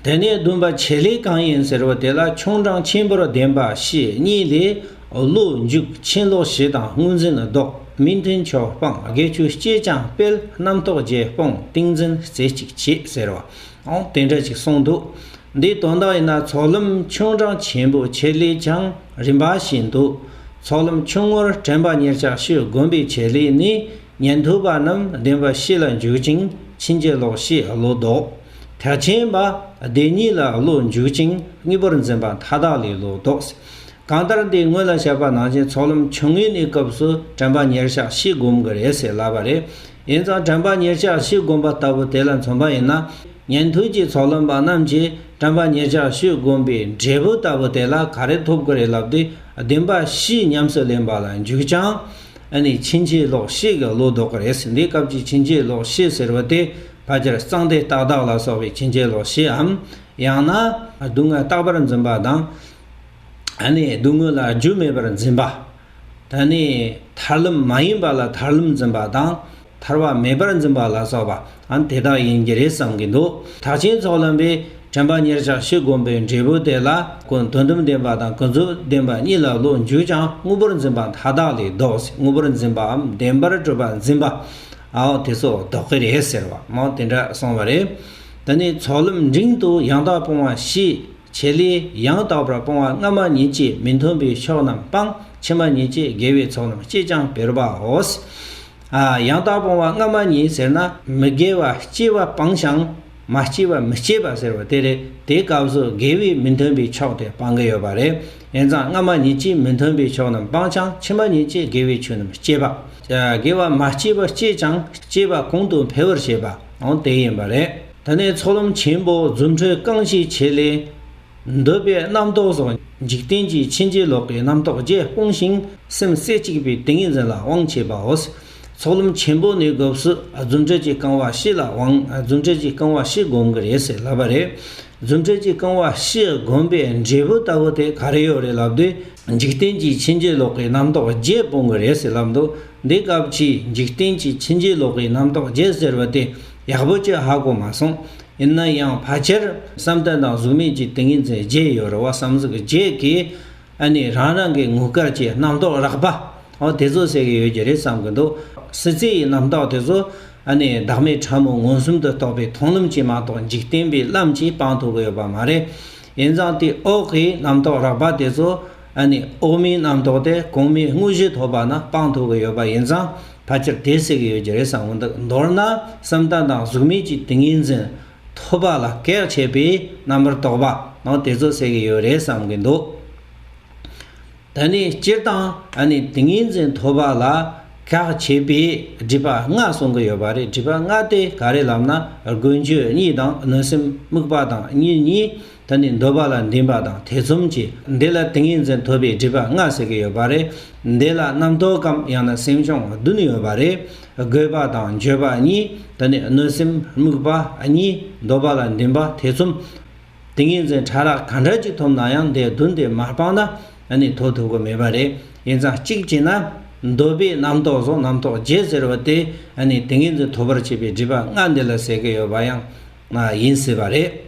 དེ་ནས་བདུན་པ་བྱེད་ལས་གང་ཡིན་ཟེར་བ་དེ་ལ་ཆུང་འབྲང་ཆེན་པོར་ལྡན་པ་ཞེས་གཉིས་ལས། ཀླུ་མཇུག་ཆེན་ལོ་བཞི་དང་དངོས་འཛིན་བཟློག་སྨིན་མཐུན་ཕྱོགས་སྤངས་དགེ་ཆུ་སྐྱེས་ཅང་སྤེལ་རྣམ་རྟོག་རྗེས་སྤོང་ཏིང་འཛིན་རྩེ་གཅིག་བྱེད་ཟེར་བའང་དེ་འདྲ་ཅིག་གསུངས་འདུག་འདིའི་དོན་དག་ཡིན་ན་ཚོགས་ལམ་ཆུང་འབྲང་ཆེན་པོ་བྱེད་ལས་ཀྱང་རིམ་པ་བཞིན་འདུག་ཚོགས་ལམ་ཆུང་ངུར་དྲན་པ་ཉེར་ཆགས་ཤིག་བསྒོམ་པའི་བྱེད་ལས་ནི་ཉན་ཐོས་པ་རྣམས་བདེན་པ་བཞི་ལ་འཇུག་ཅིང་ཕྱིན་ཅི་ལོག་ཤེས་བློ་ལྡོག། ཐལ་ཆེན་པདྨའི་གཉིས་ལ་བློ་འཇུག་ཅིང་གཉིས་པོར་འཛིན་པ་མཐའ་དག་ལས་ལོག་རྟོགས། གང་ལྟར་འདི་སྔོན་ལ་བཤད་པ་ནང་བཞིན་ཚོགས་ལམ་ཆུང་ངུའི་གནས་སྐབས་སུ་དྲན་པ་ཉེར་གཞག་བཞི་བསྒོམ་གི་རེད་ཟེར་སླ་བ་རེད། ཡིན་ཙང་དྲན་པ་ཉེར་གཞག་བཞི་བསྒོམ་པ་ལྟ་བུ་དེ་ལ་མཚོན་པ་ཡིན་ན། ཉན་ཐོས་ཀྱི་ཚོགས་ལམ་པ་རྣམས་ཀྱིས་དྲན་པ་ཉེར་གཞག་བཞི་བསྒོམ་པའི་འབྲས་བུ་ལྟ་བུ་དེ་ལ་ག་རེ་ཐོབ་ཀི་རེད་ལབ་སྟེ་བདེན་པ་བཞི་ཉམས་སུ་ལེན་པ་ལ་འཇུག་ཅིང། ཕྱིན་ཆད་ལོག་ཤེས་ཀྱི་བློ་ལྡོག་གི་རེད་འདི་སྐབས་ཀྱི་ཕྱིན་ཆད་ལོག་ཤེས་ཟེར་བ་དེ་ཕ་ཁྱེར་གཙང་སྟེ་ཏག་ཏག་ལ་སོགས་པའི་ཕྱིན་ཆད་ལོག་ཤེས་འམ། ཡང་ན། སྡུག་བསྔལ་རྟག་པར་འཛིན་པ་དང། ད་ནི་སྡུག་བསྔལ་ལ་རྒྱུ་མེད་པར་འཛིན་པ། ད་ནི་ཐར་ལམ་མ་ཡིན་པ་ལ་ཐར་ལམ་འཛིན་པ་དང། ཐར་བ་མེད་པར་འཛིན་པ་ལ་སོགས་པ་འམ་དེ་དག་ཡིན་གྱི་རེད་བསམ་གྱི་འདུག་ཐག་ཆེན་ཚོགས་ལམ་པའི་དྲན་པ་གཉེར་བྱ་ཤེས་སྒོམ་པའི་འབྲས་བུ་དེ་ལ་ཀུན་དོན་དོན་ལྡན་པ་དང་ཀུན་རྫོབ་བདེན་པ་གཉིས་ལ་བློ་འཇུག་ཀྱང་དངོས་པོར་འཛིན་པ་མཐའ་དག་ལས་བཟློག་སྟེ་དངོས་པོར་འཛིན་པའམ་བདེན་པར་སྤྲོས་པ་འཛིན་པ། ཨའོ་དེ་ཚོ་དོགས་གི་རེད་ཟེར་བ་མོ་དེ་འདྲ་སོང་བ་རེད། ད་ནི་ཚོགས་ལམ་འབྲིང་དུ་ཡང་དག་སྤོང་བ་བཞི། བྱེད་ལས་ཡང་དག་པར་སྤོང་བ་སྔ་མ་ཉིད་ཀྱིས་མི་མཐུན་པའི་ཕྱོགས་རྣམས་སྤང། ཕྱི་མ་ཉིད་ཀྱིས་དགེ་བའི་ཚོགས་རྣམས་སྐྱེད་ཅིང་འཕེལ་བའོ། ཡང་དག་སྤོང་བ་སྔ་མ་ཉིད་ཟེར་ན་མི་དགེ་བ་སྐྱེ་བ་སྤང་ཞིང། མ་སྐྱེས་པ་མི་སྐྱེ་བ་ཟེར་བ་དེ་རེད་དེ་སྐབས་སུ་དགེ་བས་མི་མཐུན་པའི་ཕྱོགས་དེ་སྤང་གི་ཡོད་པ་རེད་དབྱེན་གཙང་སྔ་མ་གཉིས་ཀྱིས་མི་མཐུན་པའི་ཕྱོགས་རྣམས་སྤངས་ཀྱང་ཕྱི་མ་གཉིས་ཀྱིས་དགེ་བའི་ཆོས་རྣམས་སྐྱེད་པ། དགེ་བ་མ་སྐྱེས་པ་སྐྱེས་ཀྱང་སྐྱེས་པ་གོང་དུ་འཕེལ་བར་བྱེད་པའང་དེ་ཡིན་པ་རེད། དེ་ནས་ཚོགས་ལམ་ཆེན་པོ་རྫུ་འཕྲུལ་རྐང་གཅིག་བྱེད་ལས། འདོད་པའི་རྣམ་རྟོག་སོགས་འཇིག་རྟེན་གྱི་ཕྱིན་ཅི་ལོག་གི་རྣམ་རྟོག་བརྒྱད་སྤོང་ཞིང་སེམས་རྩེ་གཅིག་པའི་ཏིང་ངེ་འཛིན་ལ་དབང་བྱེད་པའོ། ཚོགས་ལམ་ཆེན་པོ་ནས་དགོས་སུ་རྫུ་འཕྲུལ་གྱིས་རྐང་བ་བཞི་ལ་དབང་རྫུ་འཕྲུལ་གྱིས་རྐང་བ་བཞི་བསྒོམ་གི་རེད་ཟེར་ལབ་པ་རེད། རྫུ་འཕྲུལ་གྱིས་རྐང་བ་བཞི་བསྒོམ་པའི་འབྲས་བུ་ལྟ་བུ་དེ་ག་རེ་ཡོད་རེད་ལབ་དུས། འཇིག་རྟེན་གྱི་ཕྱིན་ཅི་ལོག་གི་རྣམ་རྟོག་བརྒྱད་སྤོང་གི་རེད་ཟེར་ལབ་འདུག་འདི་སྐབས་ཀྱི་འཇིག་རྟེན་གྱི་ཕྱིན་ཅི་ལོག་གི་རྣམ་རྟོག་བརྒྱད་ཟེར་བ་དེ་ཡག་པོ་ཅི་ཧ་གོ་མ་སོང། ཡིན་ན་ཡང་ཕལ་ཆེར་བསམ་གཏན་དང་གཟུགས་མེད་ཀྱི་ཏིང་ངེ་འཛིན་བརྒྱད་ཡོད་རེད་བསམ་གཟུགས་བརྒྱད་ཀྱི་ཨ་ནི་རང་རང་གི་ངུ་སྐར་གྱི་རྣམ་རྟོག་རགས་པ་འོ་དེ་ཚོ་ཟེར་གྱི་ཡོད་ཀྱི་རེད་བསམ་གྱི་འདུག་སྲིད་རྩེ་ཡི་རྣམ་རྟོག་དེ་ཚོ་ཨ་ནི་བདག་མེད་ཕྲ་མོ་མངོན་སུམ་དུ་རྟོགས་པའི་མཐོང་ལམ་གྱིས་མ་གཏོགས་འཇིག་རྟེན་པའི་ལམ་གྱིས་སྤང་ཐུབ་ཀྱི་ཡོད་པ་མ་རེད། ཡིན་ཙང་དེ་འོག་གི་རྣམ་རྟོག་རགས་པ་དེ་ཚོ་ཨ་ནི་འོག་མིན་རྣམ་རྟོག་སྟེ་གོང་མའི་དངོས་གཞི་ཐོབ་པ་ན་སྤང་ཐུབ་ཀྱི་ཡོད་པ་ཡིན་ཙང་ཕལ་ཆེར་དེ་ཟེར་གྱི་ཡོད་ཀྱི་རེད་བསམ་གྱི་འདུག་མདོར་ན་སེམས་དང་དང་གཟུགས་མེད་ཀྱི་ཏིང་ངེ་འཛིན་ཐོབ་པ་ལ་གེགས་བྱེད་པའི་རྣམ་པར་རྟོག་པ་ནང་དེ་ཚོ་སེལ་གྱི་ཡོད་རེད་བསམ་གྱི་འདུག་ད་ནི་སྤྱིར་བཏང་ཨ་ནི་ཏིང་ངེ་འཛིན་ཐོབ་པ་ལ་གེགས་བྱེད་པའི་སྒྲིབ་པ་ལྔ་གསུང་གི་ཡོད་པ་རེད་སྒྲིབ་པ་ལྔ་དེ་ག་རེ་ལབ་ན་དགོས་འགྱོད་གཉིས་དང་གནོད་སེམས་དམིགས་པ་དང་གཉིས་གཉིས་ད་ནི་འདོད་པ་ལ་འདུན་པ་དང་ཐེ་ཚོམ་གྱིས་འདི་ལ་ཏིང་ངེ་འཛིན་ཐོབ་པའི་སྒྲིབ་པ་ལྔ་ཟེར་གྱི་ཡོད་པ་རེད། འདི་ལ་རྣམ་རྟོག་གམ་ཡང་ན་སེམས་བྱུང་བདུན་ཡོད་པ་རེད། རྒོད་པ་དང་འགྱོད་པ་གཉིས་ད་ནི་གནོད་སེམས་དམིགས་པ་གཉིས་འདོད་པ་ལ་འདུན་པ་ཐེ་ཚོམ། ཏིང་ངེ་འཛིན་ཕྲ་རགས་གང་འདྲ་ཅིག་ཐོབ་ན་ཡང་འདི་བདུན་དེ་མ་སྤངས་ན་ད་ནི་དོ་ཐོས་གོ་མེད་པ་རེད་ཡིན་ཙང་གཅིག་བྱས་ན། འདོད་པའི་རྣམ་རྟོག་སོགས་རྣམ་རྟོག་བརྒྱད་ཟེར་བ་དེ་ནི་ཏིང་ངེ་འཛིན་ཐོབ་པར་བྱེད་པའི་སྒྲིབ་པ་ལྔ་འདི་ལ་ཟེར་གྱི་ཡོད་པ་ཡང་ཡིན་སྲིད་པ་རེད།